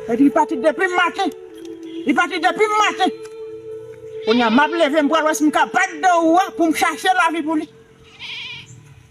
Epi li pati depim maten. Li pati depim maten. Konya map leve m pral wè si m ka bat dan ou a pou m chache lavi pou li.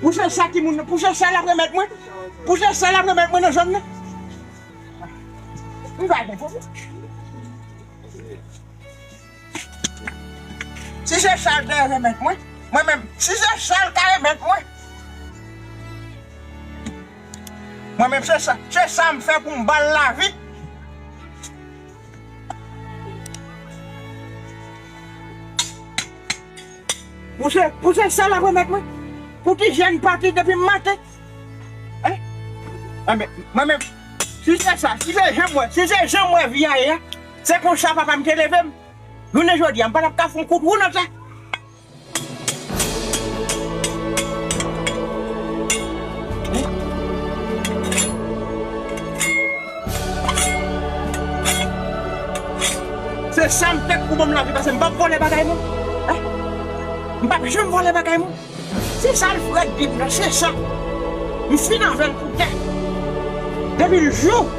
Pou jan sa ki moun nan, pou jan sa lap remèt mwen, pou jan sa lap remèt mwen nan zòn nan. M pa gen pwoblèm. Si se sal te remèt mwen, mwen menm, si se sal ka remèt mwen. Mwen menm se sa, se sa m fè pou m ban l lavi. Pou se pou se sèl ap remèt mwen? Pou ki jèn pati depi maten? Hein? Enben, mwen menm, si se sa, si se janm wè, si se janm wè vi a ye a, se konsa papa'm te leve'm. Jounen jodi a, m'pa tap ka fon kout wou nan sa. Se sa m fèt pou bonm lavi pase m pap vòlè bagay moun m pap janm vòlè bagay moun se sa l frèt bib la se sa m fin avè l pou tè depi l jou.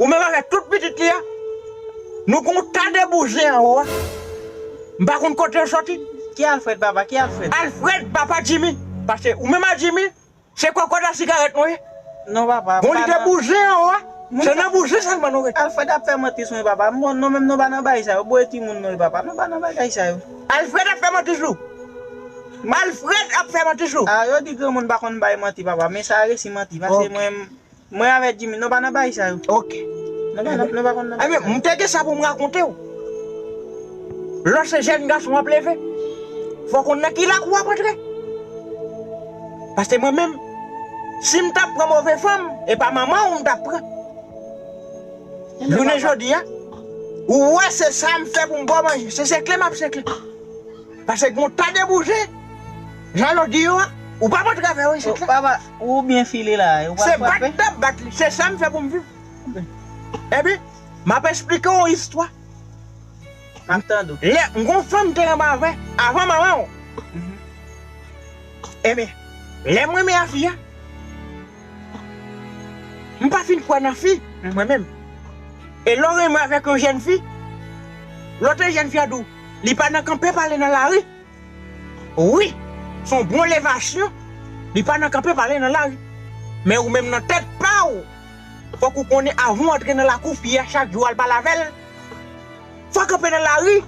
Ou menm avèk tout pitit li a, nou gen yon ta de bouje anwo a. M pa konn kote yo soti. Ki Alfred papa? Ki Alfred? Alfred papa Jimmy. Pase ou menm ak Jimmy, se kòkòt a sigarèt nou ye. Non papa, m pa nan. Gon lide bouje anwo a, se nan bouje sèlman nou rete. Alfred ap fè manti sou mwen papa. M bon, nou menm nou pa nan bagay sa yo. Bouje ti moun nou ye papa. Nou pa nan bagay sa yo. Alfred ap fè manti sou ou. Alfred ap fè manti sou ou. A, yo di granmoun pa konn bay manti papa, men sa a resi manti. Pase mwen. Mwen avè Jimmy non pa nan baay sa yo. Ok. Nou pa nan nou pa konn nan baay sa yo. Ebyen m te gen sa pou m rakonte w. Lò se jèn gason w ap leve, fò w konn nan ki lakou w ap antre. Paske mwen menm, si m t ap pran move fanm, e pa manman w m t ap pran. Jounen jodi a, ou wè se sa m fè pou m ba w manje. Se senkle m ap senkle. Paske gen yon tas de bouzen, jan yo di yo a, ou p ap antre avè yo isit la. Ou byen file la e ou pral frape. Se bat dap bat li, se sam fè poum viv. Epi map esplike w yon istwa. Map tande w. Lè m gon fanm te anba vè avan manman w. Ebyen lè m renmen a fi a, m pa fin kwè nan fi mwen menm. E lè w renmen avèk yon jèn fi, lòt jèn fi a di w li pa nan kanpe pale nan lari. Wi son bon levasyon li pa nan kanpe pale nan lari men ou menm nan tèt paw fòk ou konnen avan ou antre nan lakou fi a chak jou al pale avèl fò kanpe nan lari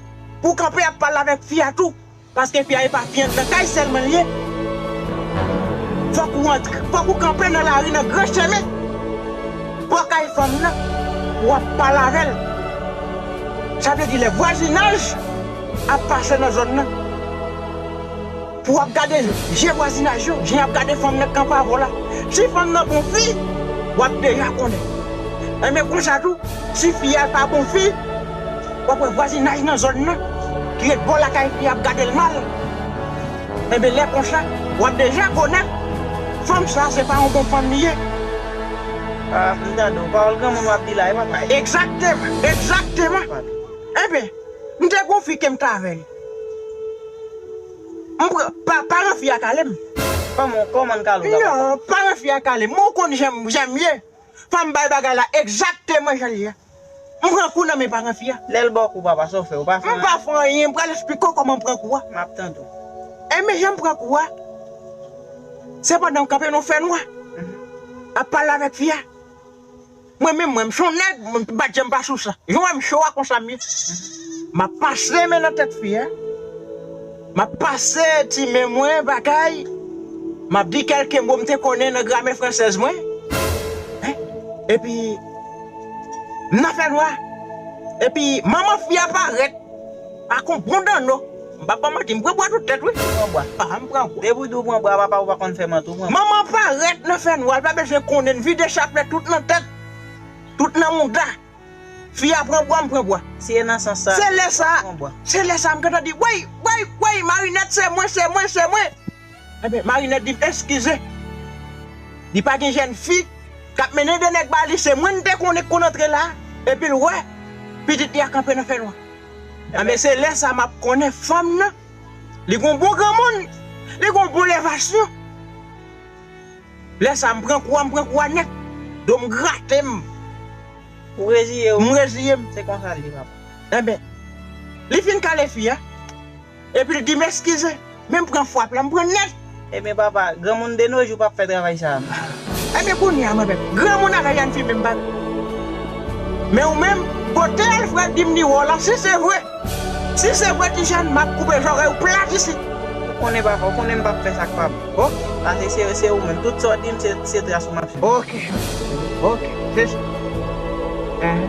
pou kanpe ap pale avèk fi a tou paske fi a epa fiyann nan kay sèlman liye fòk ou antre fòk ou kanpe nan lari nan gran chemen bò kay fanm nan pou ap pale avèl sa vle di lè vwazinaj. ap pase nan zòn nan pou wap gade je vwazinaj yo jan yap gade fanm nan kanpe avèw la si fanm nan bon fi wap deja konnen enben konsa tou si fi a pa bon fi wap wè vwazinaj nan zòn nan ki ret bò lakay fi a ap gadel mal enben lè konsa wap deja konnen fanm sa se pa yon bon fanm li ye ah m tande w pawòl granmoun wap di la wi papa egzakteman egzakteman enben. M te gon fi kem t avèl. M pran paran fi a kalem. Kòman kòman kale w la papa. Non paran fi a kalem mwen ou konn janm janm ye fòm bay bagay la egzakteman janl ye m pran kou nan men paran fi a. Lèl baw kou papa sa w fè ou pa fè anyen. M pa fè anyen m pral esplike w kòman m pran kou a. Map tande w. Enben janm pran kou a se pandan m kanpe nan fè nwa ap pale avèk fi a. Mwen menm mwen m son nèg m pa janm pa sou sa jan w wè m cho a konsa m ye m ap pase men nan tèt fi a m ap pase ti men mwen batay m ap di kèlke mo m te konnen nan gramè fransèz mwen epi m nan fè nwa epi manman fi a parèt. Ak on bon danno. M pap baw manti m pran bwa tout tèt wi. Pran bwa pam pran bwa. Depi tou pran bwa papa ou pa konn fè manti ou pran bwa. Manman parèt nan fè nwa l pa bezwen konnen n vide chaplèt tout nan tèt tout nan mouda fi a pran bwa m pran bwa. Si e nan sans sa se lè sa se lè sa m gentan di woy woy woy marinèt se mwen se mwen se mwen. Ebyen marinèt dim eskize li pa gen jèn fi kap mennen 2 nèg ba li se mwen li te konnen ki konn antre la epil wè pitit li a kanpe nan fènwa ebyen se lè sa map konnen fanm nan li gon bon granmoun li gon bon lèvasyon lè sa m pran kou a m pran kou a nèt dom gratem. Ou reziyew? M reziyem. Se konsa l ye papa. Ebyen li fin kale fi a. Epi l di m eskize. Men m pran fwap la, m pran nèt. Ebyen papa, granmoun de no jou pa p fè travay sa a. Ebyen kounye a mwen menm. Granmoun al Ryan Fime m pa p. Men ou menm, kote Alfred di m li wè w la, si se vre. Si se vre ti jèn, m ap koupe zòrèy ou plat isit. Ou konnen papa, ou konnen m pa p fè sa k pa bon. Ok. Pase se yo, se ou menm. Tout sa w di m se tras ou m ap sibi. Ok. Ok. Se sa. Enhen.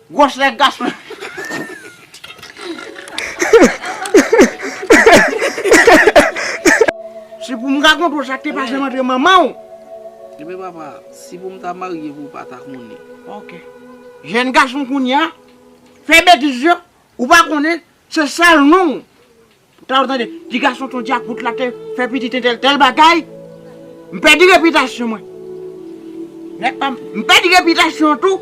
Gwòs lè gason yo fin pale yo pale. Si pou m rakonte w sa k te pase m antre manman w. Ebyen papa, si pou m ta marye pou w pa ta konnen. Ok. Jèn gason kounye a, fè betiz yo, ou pa konnen, se sèl non w Tande tande, ti gason ton dyakout la te fè pitit entèl tèl bagay, m pèdi repitasyon mwen. Nèg pa m, m pèdi repitasyon an tou.